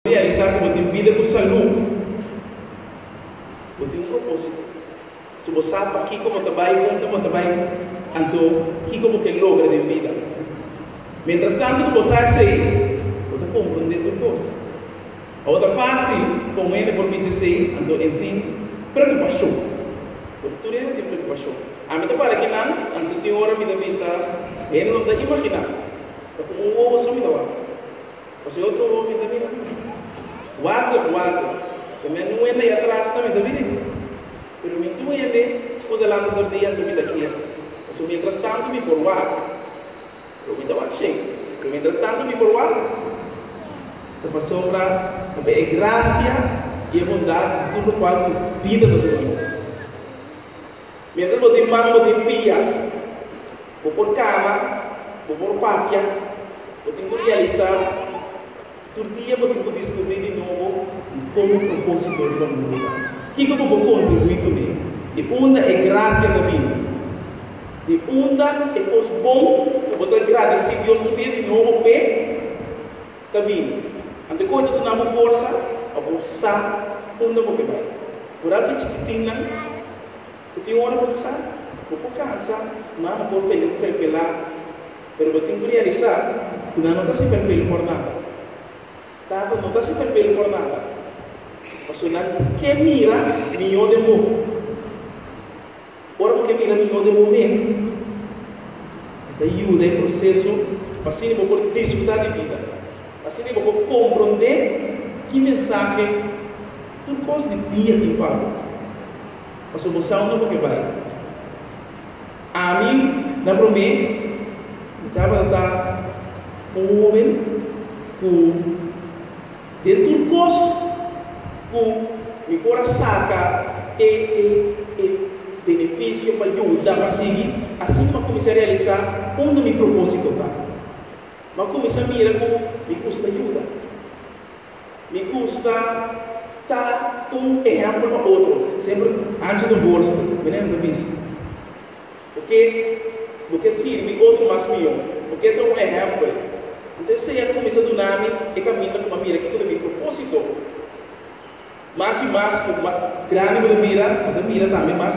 Realisá ku bo tin bida ku salú. Bo tin un propósito. Si bo sa pakiko bo ta bai, unda bo ta bai, anto kiko bo ke logra den bida. Mientrastantu ku bo sa esei, bo ta komprondé tur kos. Ora ta fásil pa un hende por bisa esei, anto e tin preokupashon. Pero tur hende tin preokupashon. Ami ta para kinan, anto tin ora mi ta bisa hende lo mi ta imaginá ta ku un wowo so mi ta wak. Mas e otro hopi ta bini cu mi. Wazep, wazep, te men un hende atras ta mi ta bini. Pero mi tin un hende cu ta lanta tur dia anto mi ta kia. Pasobra mientras tanto mi por wak. Pero mi ta wak shei. Pero mientras tanto mi por wak. Ta pasobra ta bay e gracia y e bondad di tur locual cu bida ta duna nos. Mientras bo tin man, bo tin pia. Bo por kaba, bo por papia, bo tin ku realisá i tur dia bo tin ku diskubrí di nobo di komo propósito riba mundu ta. Kiko bo por kontribuí kuné? Di unda e grasia ta bini? Di unda e kos bon ku bo ta gradisí Dios tur dia di nobo p'e ta bini? Anto koi ta duna bo forsa pa bo sa unda bo ke bai? Kural ku e chikitinnan. Bo tin ora bo ta sa, bo por kansa, ma bo por tene un felfe lagu. Pero bo tin ku realisá ku nan no ta hasi felfel por nada. Tata no ta hasi felfel por nada, pasobra nan ke mira mihó den bo. Ora bo ke mira mihó den bo mes, e ta yuda e proseso pa asina bo por disfrutá di bida. Asina bo por komprondé ki mensahe tur kos di dia tin p'abo. Paso bo sao no bo ke bai. Ami na promé mi tabata ta un hóben ku den tur kos ku mi por a saka e e e benefisio pa yuda pa sigui. Asin mi a kuminsá realisá unda mi propósito ta. Mi a kuminsá mira ku mi gusta yuda. Mi gusta ta un ehempel pa otro. Semper anchi bo bolso, menen lo ta bizi. Bo ke bo ke sirbi otro mas mihó. Bo ke ta un ehempel. Nta e Señor a cuminsa duna mi e caminda cu m'a mira kico ta mi propósito. Mas y mas cu mas grandi bo ta bira, bo ta mira tambe mas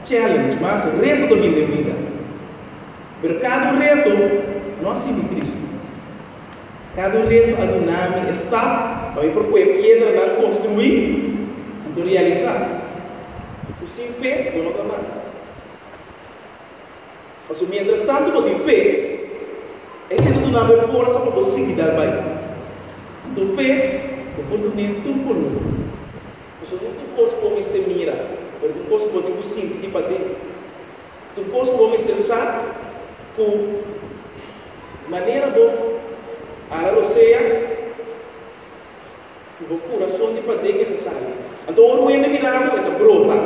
challenge, mas reto ta bini den e bida. Pero cada un reto no asina di Cristo. Kada un reto a duna mi e staf pa mi por cu e piedranan construi, anto realisa cu sin fe bo no ta nada. Pasobra mientras tanto bo tin fe, esey ta duna bo e forsa pa bo sigui dal bay. Anto fe bo por duna en tur color, pasobra no tin cos cu bo mester mira, pero tin cos cu bo tin cu sinti di paden. Un kos bo mester sa, ku manera bo ara lo sea, ku bo kurason di paden e ta sali. Anto ora wende mira bo, e ta brota.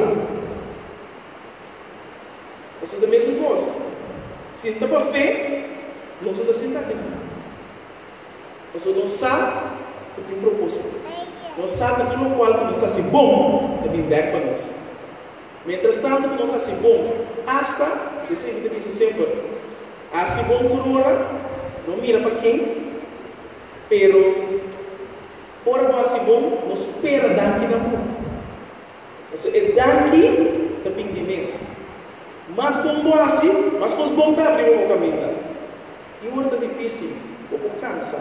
Pasobra ta mesun kos, si no ta pa fe, nos no ta sinta aki nan. Pasobra nos sa ku tin propósito. Nos sa ku tur lokual ku nos hasi bon ta bin bèk pa nos. Mientras tanto cu nos haci bon, hasta, e sey cu ta bisa semper, haci bon tur ora, no mira pa ken, pero ora bo haci bon, no spera danki na bo, pasobra e danki ta bin di mes. Mas bon bo haci, mas cos bon ta habri pa bo caminda. Tin ora ta dificil, bo por cansa,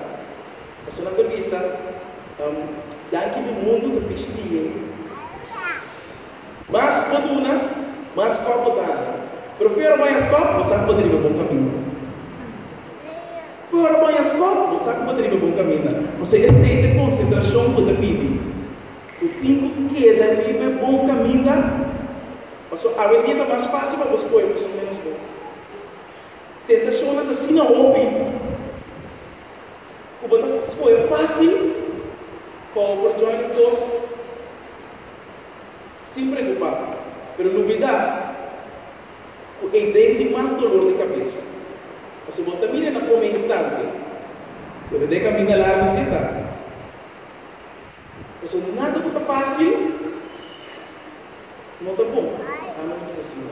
pasobra nan ta bisa, Danki di mundo ta pichi diñe. Mas bo duna, mas skòp bo ta haña. Pero fo'i ora bo haña skòp, bo sa ku bo ta riba bon kaminda. Fo'i ora bo haña skòp, bo sa ku bo ta riba bon kaminda. Pasobra esei ta e konsentrashon ku bo ta pidi. Bo tin ku keda riba e bon kaminda, pasobra awendia ta mas fásil pa bo skohe persoan ménos bon. Tentashonnan ta asina hopi ku bo ta skohe fásil pa bo por djòin un kos. Sin preocupa, pero no bida cu ei den di mas dolor di cabes. Pasobra bo ta mira na prome instante, pero na e caminda largo si ta. Pasobra nada cu ta facil no ta bon, a menos cu ta sin.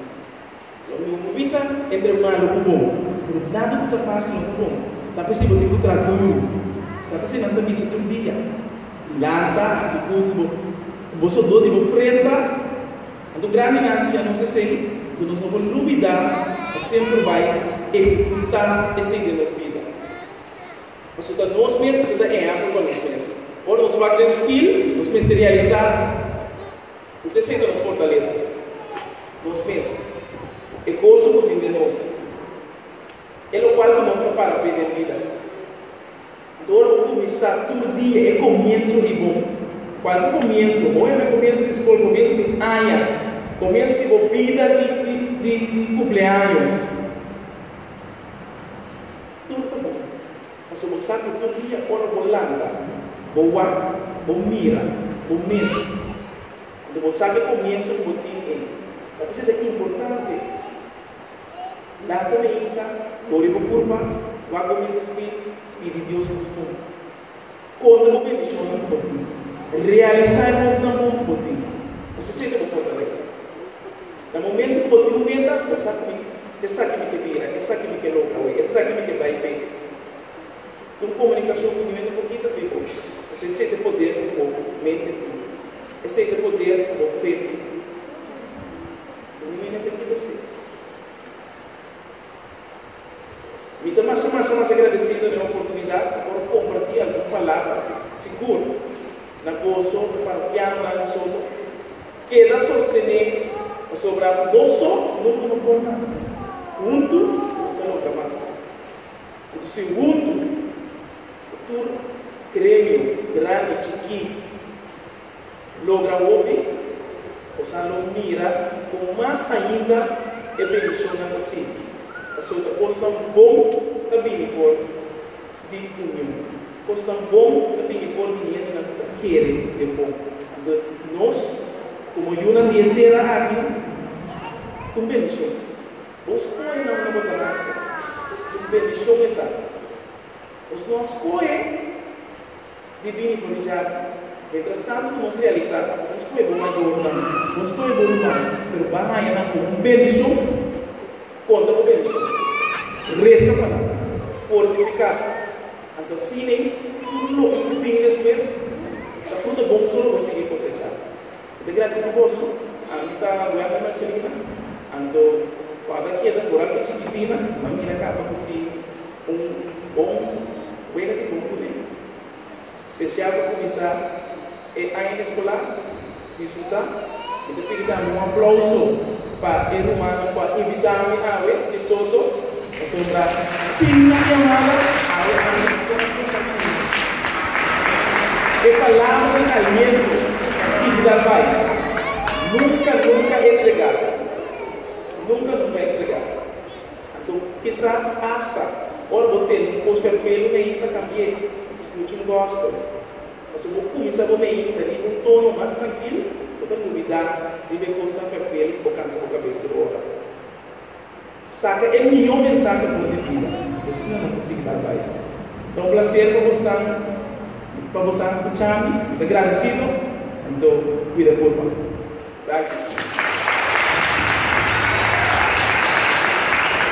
Lo mi ku bisa, entre malu ku bon, pero nada ku ta mas sino ku bon. Ta p'esei bo tin ku traha duru. Ta p'esei nan ta bisa tur dia, Lanta, hasi kos ku bo ku bo sudó di bo frenta. Anto grandi nan siña nos esei, anto nos no por lubidá pa semper bai ehekutá esei den nos bida. Pasobra ta nos mes mester ta ehèmpel pa nos mes. Ora nos wak den spil, nos mester realisá Ku ta esei ta nos fortalesa? Nos mes. E goso ku tin den nos, e lokual ku nos ta para p'e den bida. Anto ora bo kuminsá tur dia e komienso di bo, kualke komienso, bo hende komienso di skol, komienso di aña, komienso di bo bida di kumpleaños, tur ta bon. Pasobra bo sa ku tur dia ora bo lanta, bo wak, bo mira bo mes. Anto bo sabi e komienso ku bo tin ei. Ta kuse ta importante? Lanta meita, lori bo kurpa, wak bo mes di spirit, pidi Dios purdon. Konta bo bendishonnan ku bo tin. Realisá e kosnan bon ku bo tin. Pasobra esei ta bo fortalesa. Na momento cu bo tin un meta, bo sa cu mi esaki mi ke bira, esaki mi ke logra hoy, esaki mi ke bay p'e. Tin un comunicacion cu nivel di bo kita fe bo. Esey esey t'e poder cu bo mente tin. Esey t'e poder cu bo fe tin. Tin nivel di bo kita esey. Mi ta masa masa masa gradecido na e oportunidad pa por comparti algun palabra, sigur na goso e parokianonan di Soto keda sostene pasobra nos so nunca no por nada, huntu nos ta logra mas. Entu si huntu, e tur gremio, grandi, chikí, logra hopi, nos a lo mira con mas ainda e bendicionnan ta sinti. Pasobra ta cosnan bon ta bini for di union. Cosnan bon ta bini for di hendenan cu ta kere den bon. Anto nos, como yunan di e tera aki, ta un bendicion. Bo scohe nan unda bo ta nace. Un bendicion e ta. Nos no a scohe. di bini ku Richardo. Mientrastantu ku nos realisá ku nos ku e bo mayornan, nos ku e bo ruman, pero bo a haña nan komo un bendishon kontra bo bendishon. Resa pa nan. Fortifiká bo. Anto asina ei tur loke ku bini despues ta fruta bon ku solo bo sigui kosechá. Bo ta gratis di boso? Ami ta Wendy Marcelina. Anto cu a ta keda foral di chikitina, a mira ca a ta por tin un bon wega di bon cune. Special pa cuminsa e aña escolar. Disfruta. Mi ta pidi tambe un aplauso pa e rumannan cu a invita mi awe di Soto. Esei ta sin nan yamada, awe a ri kon ku ta kura. E palabra di aliento ta sigui dal bai. Nunka, nunka entregá. Nunka, nunka entregá. Anto, kisas asta ora bo tene un kos perfelu mei ta kambi'é. Skucha un gòspel. Pasobra bo kuminsá bo mei ta riba un tono mas trankil, bo ta lubidá riba e kosnan perfelu ku bo kansa bo kabes tur ora. Saca e mihó mensahe bo di bida. I asina nos ta sigui dal bai. Ta un placer pa bos tan pa bos tan scucha mi. Mi ta gradecido. Anto cuida por bo. Gracias.